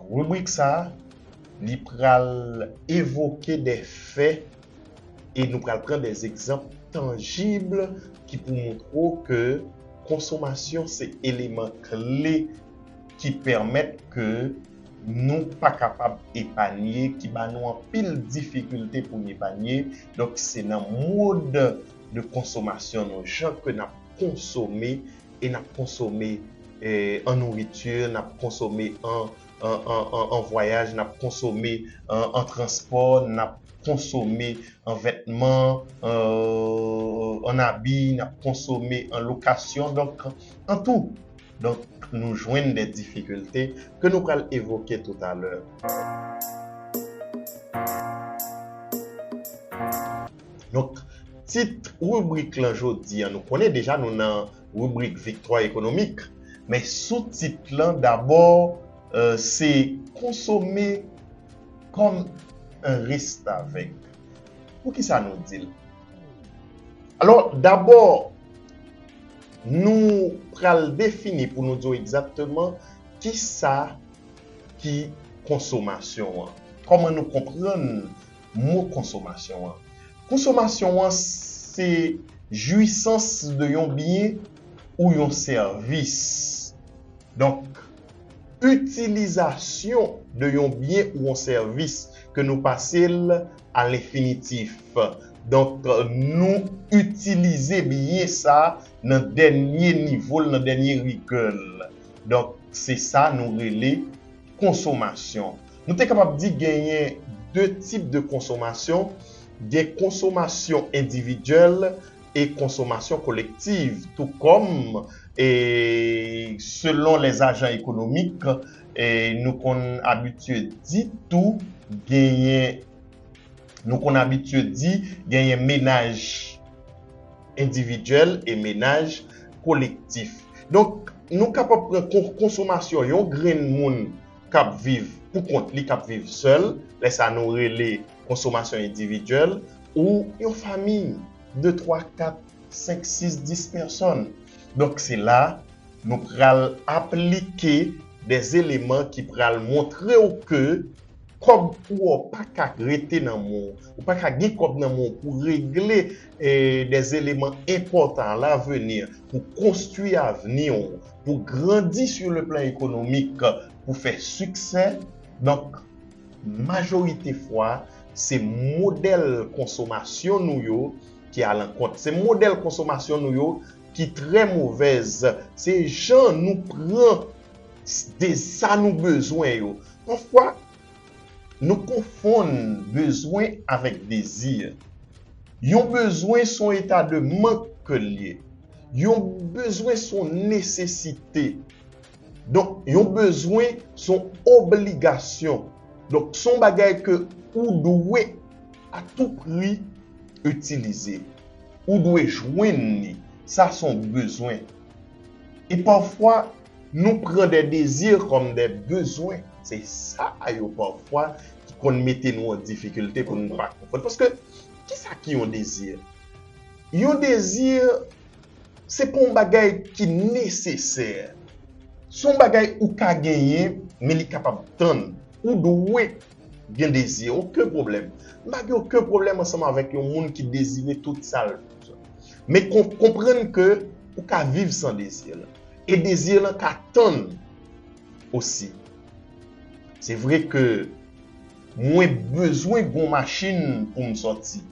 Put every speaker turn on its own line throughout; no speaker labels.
Ribrik sa a, li pral evoke de fè e nou pral pran de egzanp tanjib ki pou montre w ke konsomasyon se eleman kle ki pèmèt ke nou pa kapab epanye, ki ba nou anpil difikilte pou n epanye. Donk se nan mode de consommation nou, jan ke n ap konsome, e n ap konsome an nouriti, n ap konsome an vwayaj, n ap konsome an transpò, n ap konsome an vètman, an abi, n ap konsome an lokasyon, donk an tou. Donk nou jwenn dè difikilte ke nou pral evoke toutalè. Donk, tit ribrik lan jodi an, nou konnen deja nou nan ribrik viktwa ekonomik, men sou tit lan dabò se konsome kòm en restavèk. Pou ki sa nou di l? Alò, dabò nou pral defini pou nou di w egzakteman ki sa ki konsomasyon an. Kòman nou konprann mo konsomasyon an. Konsomasyon an se jwisans de yon byen ou yon sèvis. Donk, itilizasyon de yon byen ou yon sèvis ke nou pase l a lenfinitif. Donk, nou itilize byen sa nan dènye nivo l, nan dènye rigè l. Donk, se sa nou rele konsomasyon. Nou te kapab di genyen 2 tip de konsomasyon, gen konsomasyon endividyèl e konsomasyon kolektiv, tou kòm e selon lè ajan ekonomik e nou konn abitye di tou genyen nou konn abitye di genyen menaj endividyèl e menaj kolektif. Donk nou kapab pran konsomasyon yon grenn moun kap viv pou kont li, kap viv sèl, lè sa nou rele konsomasyon endividyèl, ou yon fami, 2, 3, 4, 5, 6, 10 pèsòn. Donk se la nou pral aplike de eleman ki pral montre w ke kòb ou a pa ka rete nan men w, ou pa ka gen kòb nan men w pou regle de eleman enpòtan a laveni pou konstwi avni w. pou grandi sur le plan ekonomik, pou fè siksè. Donk, majorite fwa, se modèl konsomasyon nou yo ki alankont. Se modèl konsomasyon nou yo ki trè movèz. Se jan nou pran de sa nou bezwen yo. Pafwa, Nou konfonn bezwen avèk dezi. Yon bezwen s on eta de mank ke l ye. Yon bezwen s on nesesite. Donk, yon bezwen s on obligasyon. Donk, s on bagay ke ou dwe a tou pri itilize. Ou dwe jwenn li. Sa s on bezwen. E pafwa. Nou pran des désirs comme des besoins, se sa a yo pafwa ki konn mete nou an difikilte pou nou pa konprann. Paske, ki sa ki yon desir? Yon desir, se pa yon bagay ki nesesè. Se yon bagay ou ka genyen, men li kapab tann. Ou dwe Gen dezi, oken pwoblèm. M pa gen oken pwoblèm ansanm avèk yon moun ki dezire tout sa l bezwen. Men konprann ke ou ka viv san dezi lan. E dezi lan ka tann osi. Se vre ke mwen bezwen gon machin pou m sòti.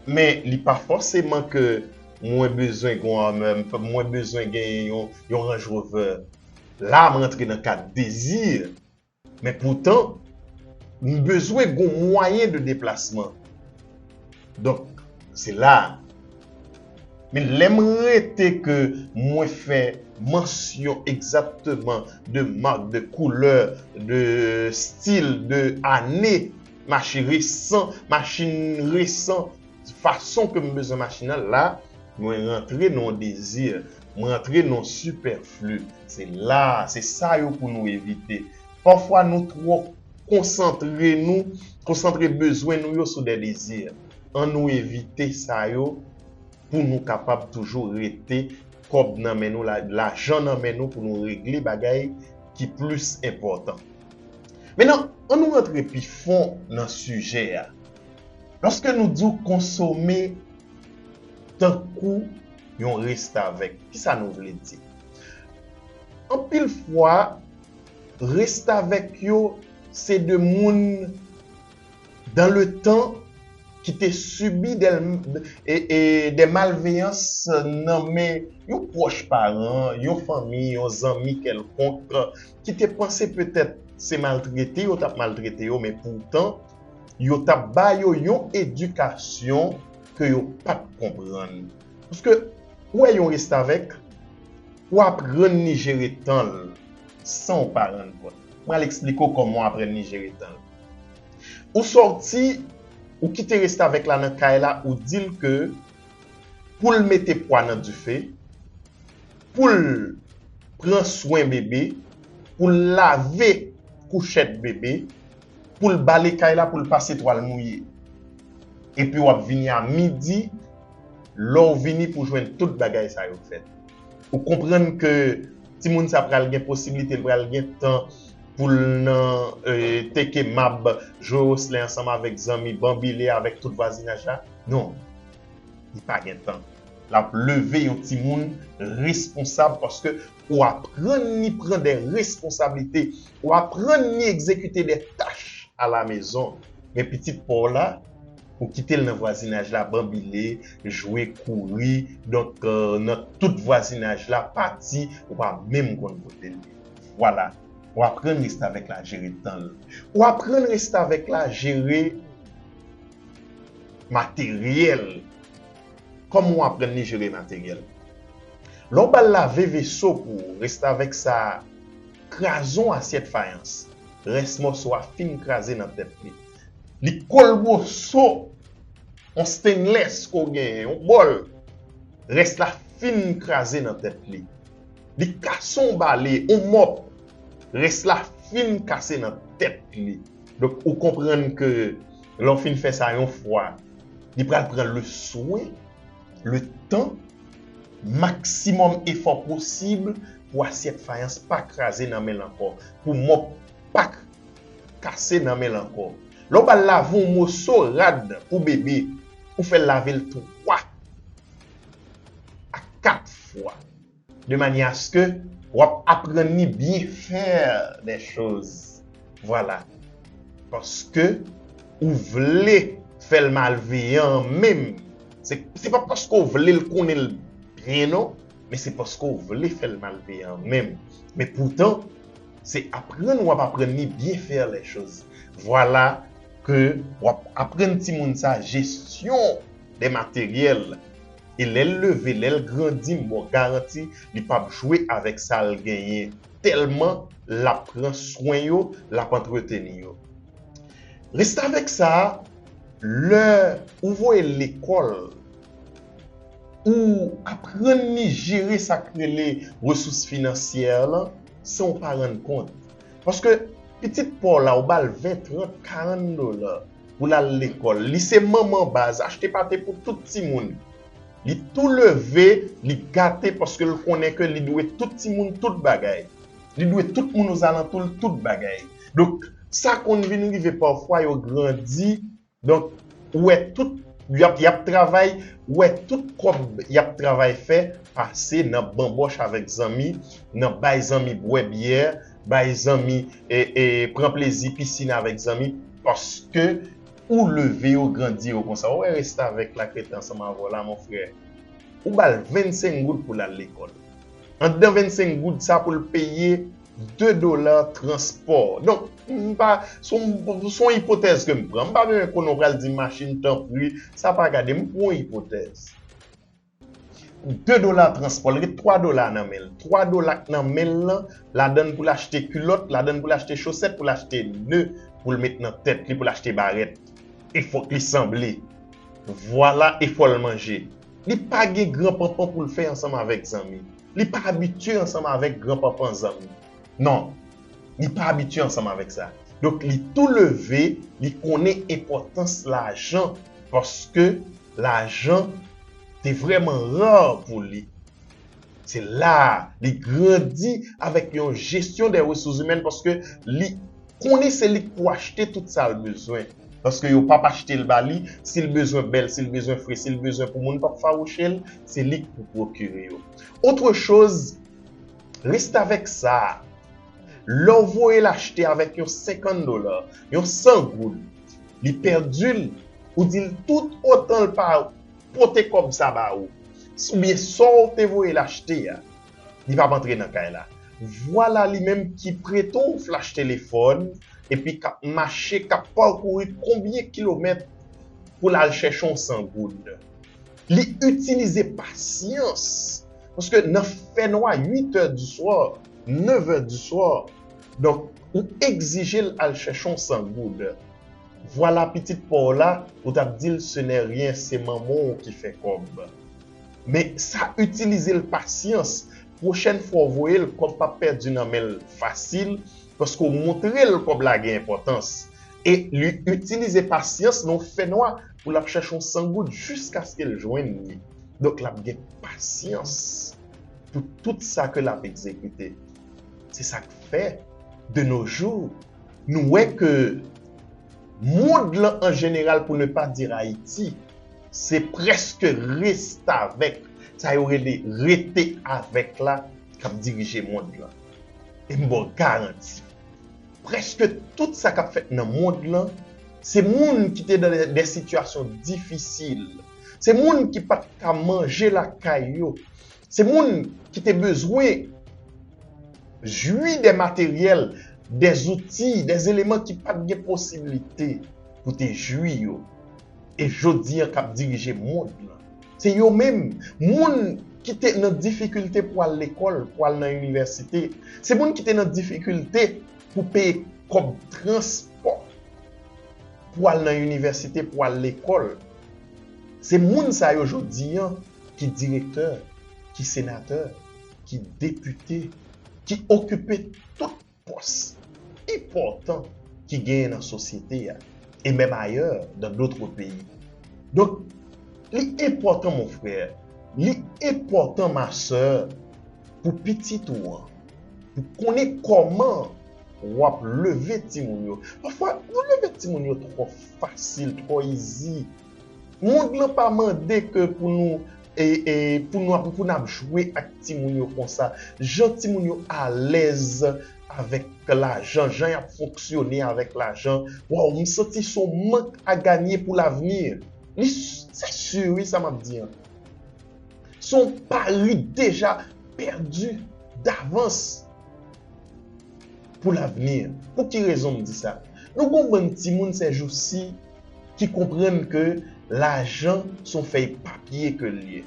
Men li pa fòseman ke mwen bezwen gon Hummer, mwen bezwen genyen yon Range Rover. La m rantre nan kad dezi. Men poutan, m bezwen gon mwayen de deplasman. Donk, se la a. Men lè m rete ke mwen fè mansyon egzatteman de mark, de koulè, de stil, de ane mache resan, machin resan, Fason ke m bezwen machin nan, la mwen rantre nan yon dezi, m rantre nan yon sipèfli. Se la, se sa yo pou nou evite. Pafwa nou twò konsantre nou, konsantre bezwen nou yo sou dè dezi. An nou evite sa yo pou nou kapab toujou rete kòb nan men nou, lajan nan men nou pou nou regle bagay ki plis enpòtan. Menan, an nou rantre pi fon nan sijè a. Lòske nou di w konsome tankou yon restavèk, ki sa nou vle di? Anpil fwa, restavèk yo se de moun dan le tan ki te sibi de malveyans nan men yon pwòch paran, yon fanmi, yon zanmi kèlkonk ki te panse petèt se maltrete yo t ap maltrete yo men poutan yo t ap ba yo yon edikasyon ke yo pa t konprann. Paske, ou wè yon restavèk, ou aprann li jere tan l san ou pa rann kont. M pral eksplike ou kòman ou aprann li jere tan l. Ou sòti, ou kite restavèk la nan kay la, ou di l ke pou l mete pwa nan dife, pou l pran swen bebe, pou l lave kouchèt bebe, pou l bale kay la pou l pase twal mouye. Epi w ap vini a midi, lè w vini pou jwenn tout bagay sa yo fèt. Ou konprann ke timoun sa pral gen posiblite, li pral gen tan pou l nan teke mab, jwe oslen ansanm avèk zanmi, banbile avèk tout vwazinaj la? Non. Li pa gen tan. L ap leve yon timoun responsab paske. Ou aprann ni pran de responsablite, ou aprann ni egzekite de tach alamezon. Men pitit pa w la, ou kite l nan vwazinaj la banbile, jwe, kouri, donk nan tout vwazinaj la, pati, ou pa menm konn kote l ye. Vwala, ou aprann restavèk la jere tan l. Ou aprann restavèk la jere materyèl. Kòman w aprann li jere materyèl? Lè w ba l lave veso pou ou, restavèk sa a kraze yon asyèt fayans, rès mòso a fin kraze nan tèt li. Li kole moso yon stainless ke w genyen, yon bòl, rès la fin kraze nan tèt li. Li kase yon bale, yon mòp, rès la fin kase nan tèt li. Donk ou konprann ke lè w fin fè sa yon fwa, li pral pran le swen, le tan, maksimòm efò posib pou asyèt fayans pa kraze nan men l ankò, pou mòp pa kase nan men l ankò. Lè w pral lave yon moso rad pou bebe, ou fè l lave l 3 a 4 fwa. de manyè aske w ap aprann li byen fè lè choz vwala paske ou vle fè l malveyan an menm se pa paske w vle l konnen l byen non men se paske w vle fè l malveyan an menm men poutan se aprann w ap aprann li byen fè lè choz vwala ke w ap aprann timoun sa jesyon de materyèl. e lèl leve lèl grandi m baw garanti li pap jwe avèk sal genyen tèlman lap pran swen yo lap antreteni yo restavèk sa lè ou voyel lekòl ou aprann li jere sak rele resous finansyè lan san ou pa rann kont paske pitit paw la ou bal 20 30 40 dola pou l al lekòl. Li se manman baz, achte pate pou tout timoun. Li tou leve, li gate paske l konnen ke li dwe tout timoun tout bagay. Li dwe tout moun ozalantou l tout bagay. Donk, sa konn vin rive pafwa yo grandi, donk, ou wè tout, y ap travay, ou wè tout kòb y ap travay fè pase nan banbòch avèk zanmi, nan bay zanmi bwè byè, bay zanmi e pran plezi piscine avèk zanmi paske ou leve yo grandi yo konsa ou wè restavèk la k rete ansanm avèw la mon frè ou bal 25 goud poul al lekòl andan 25 goud sa poul peye 2 dola transpò donk m pa son ipotèz kem pran m pa bezwen konnen ou pral di machin tanpri sa pa gade m pran yon ipotèz. 2 dola transpò l ret 3 dola nan men l 3 dola k nan men l lan ladan l pou l achte kilòt ladan l pou l achte chosèt pou l achte ne pou l met nan tèt li pou l achte barèt e fòk li sanble vwala e fò l manje li pa gen gran panpan pou l fè ansanm avèk zanmi li pa abitye ansanm avèk gran panpan zanmi non li pa abitye ansanm avèk sa donk li tou leve li konnen enpòtans lajan paske. Lajan te vrèman rare pou li. Se la a li grandi avèk yon jesyon dè resouzimèn paske li konnen se li k pou achte tout sa l bezwen. Paske yo pap achte l ba li, si l bezwen bèl, si l bezwen fre, si l bezwen pou moun pap fawouche l, se li k pou pwokire yo. Autre chose, restavèk sa a, lè w voye l achte avèk yon 50 dola, yon 100 goud, li pèdil ou dil tout otanl pa pote kòb sa ba ou oubyen sow te voyel achte a li pap antre nan kay la vwala li menm ki prete w flach telefòn epi kap mache kap pakouri konbyen kilomèt poul al chèche yon 100 goud li itilize pasyans paske nan fènwa 8 è di swa. 9 heures du soir donc ou egzijel al chèche yon 100 goud vwala pitit paw la ou tap dil ce n'est rien se manman w ki fè kòb men sa itilizel pasyans pwochèn fwa w voyel kòb pap pèdi nan menl fasil paske w moutrel kòb la gen enpòtans e li itilize pasyans nan yon fènwa pou lap chèche yon 100 goud jiskaskel jwenn li donk lap gen pasyans. pou tout sa ke l ap egzekite. Se sa k fè, de no jou, nou wè ke mond lan an jeneral, pou ne pa dir Ayiti, se prèske restavèk, sa yo rele rete avèk la, k ap dirije mond lan. E m ba w garanti, prèske tout sa k ap fèt nan mond lan, se moun ki te nan dè sitiyasyon difisil, se moun ki pa t ka manje lakay yo, Se moun ki te bezwen jwi de materyèl, de zouti, de eleman ki pa t gen posiblite pou te jwi yo e jodi an k ap dirije mond lan. Se yo menm, moun ki te nan difikilte pou al lekòl, pou al nan inivèsite. Se moun ki te nan difikilte pou peye kòb transpò pou al nan inivèsite, pou al lekòl. Se moun sa yo jodi an. ki direktè, ki senatè, ki depite, ki okipe tout pòs enpòtan ki genyen nan sosyete a e menm ayè dan dotre peyi. Donk, li enpòtan mon frè, li enpòtan ma sè pou pitit ou an, pou konnen kòman w ap leve timoun yo. Pafwa, nou leve timoun yo twò fasil, twò izi. Mond lan pa mande ke pou nou pou nou ap pou nap jwe ak timoun yo konsa jan timoun yo alèz avèk lajan jan yap fonksyone avèk lajan waw m santi son mank a ganye pou lavni li se sur wi sa map di an son pari deja pèdi davans pou lavni pou ki rezon m di sa nou gon bann timoun sèjousi. ki konprann ke lajan son fèy papye ke l ye.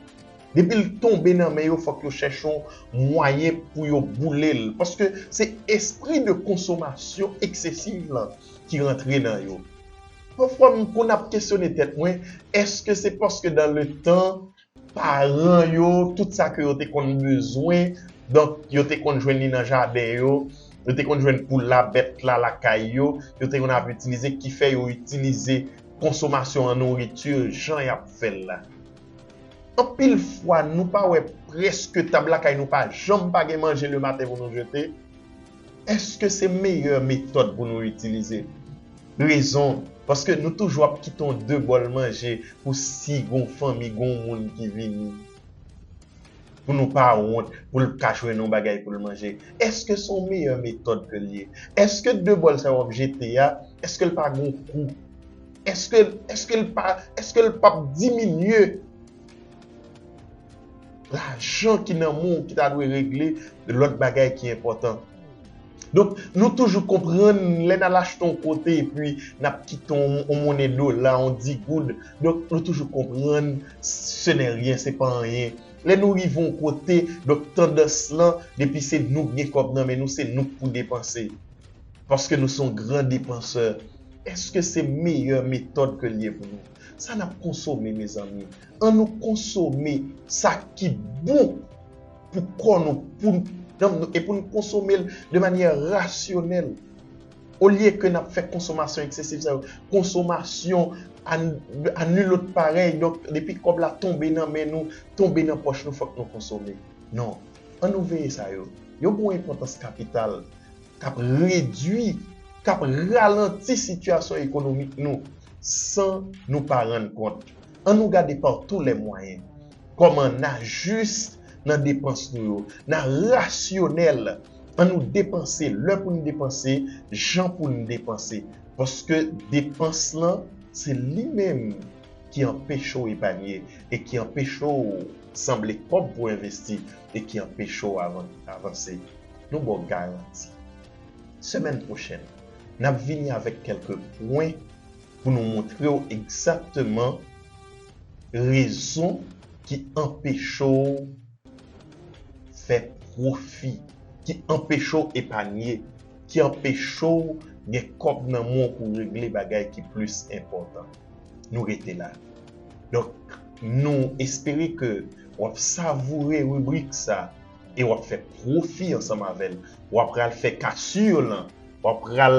Depi l tonbe nan men yo fòk yo chèche yon mwayen pou yo boule l paske se espri de konsomasyon eksesiv lan ki rantre nan yo. Pafwa m konn ap kesyone tèt mwen, èske se paske dan le tan paran yo, tout sa ke yo te konn bezwen, donk yo te konn jwenn li nan jaden yo, yo te konn jwenn poul la, bèt la lakay yo, yo te konn ap itilize ki fè yo itilize konsomasyon an nouriti jan y ap fè l la. Anpil fwa nou pa wè prèske tab lakay nou pa janm pa gen manje le maten pou nou jete, èske se meyè metòd pou nou itilize? Rezon, paske nou toujou ap kite yon de bòl manje pou si gon fanmi, gon moun ki vini. Pou nou pa wont, pou l ka jwenn yon bagay pou l manje. Eske se yon meyè metòd ke l ye? Eske de bòl sa yo w ap jete a, eske l pa gon kou? Eske, eske l pa, eske l pap diminye lajan ki nan men w ki ta dwe regle lòt bagay ki enpòtan? Donk, nou toujou konprann lè n al achte yon kote epi n ap kite yon monnen dola, yon di goud, donk nou toujou konprann se nè ryen, se pa anyen. Lè nou rive yon kote, donk tandans lan, depi se nou k gen kòb nan men nou, se nou k pou depanse. Paske nou se yon gran depansè. Èske se meyè metòd ke l ye pou nou? Sa n ap konsome mezanmi? Annou konsome sa ki bon! pou kò nou, pou nanm nou, e pou nou konsome l de manyè rasyonèl. Olye ke n ap fè konsomasyon eksesif sa yo, konsomasyon a nul autre pareil, donk depi kòb la tonbe nan men nou, tonbe nan pòch nou, fòk nou konsome. Non. An nou veye sa yo. Yo gen yon enpòtans kapital k ap redui, k ap ralanti sitiyasyon ekonomik nou san nou pa rann kont. An nou gade par tous les moyens kòman na juste nan depans nou yo, na rasyonèl, an nou depanse lè pou n depanse, jan pou n depanse, paske depans lan se li menm ki anpeche w epanye e ki anpeche w sanble kòb pou envesti e ki anpeche w avanse. Nou ba w garanti, semèn pwochèn, n ap vini avèk kèlke pwen. pou nou montre w egzakteman rezon ki anpeche w fè pwofi, ki anpeche w epanye, ki anpeche w gen kòb nan men w pou w regle bagay ki plis enpòtan. Nou rete la. Donk, nou espere ke w ap savoure ribrik sa e w ap fè pwofi ansanm avè l. W ap pral fè kasur lan, w ap pral.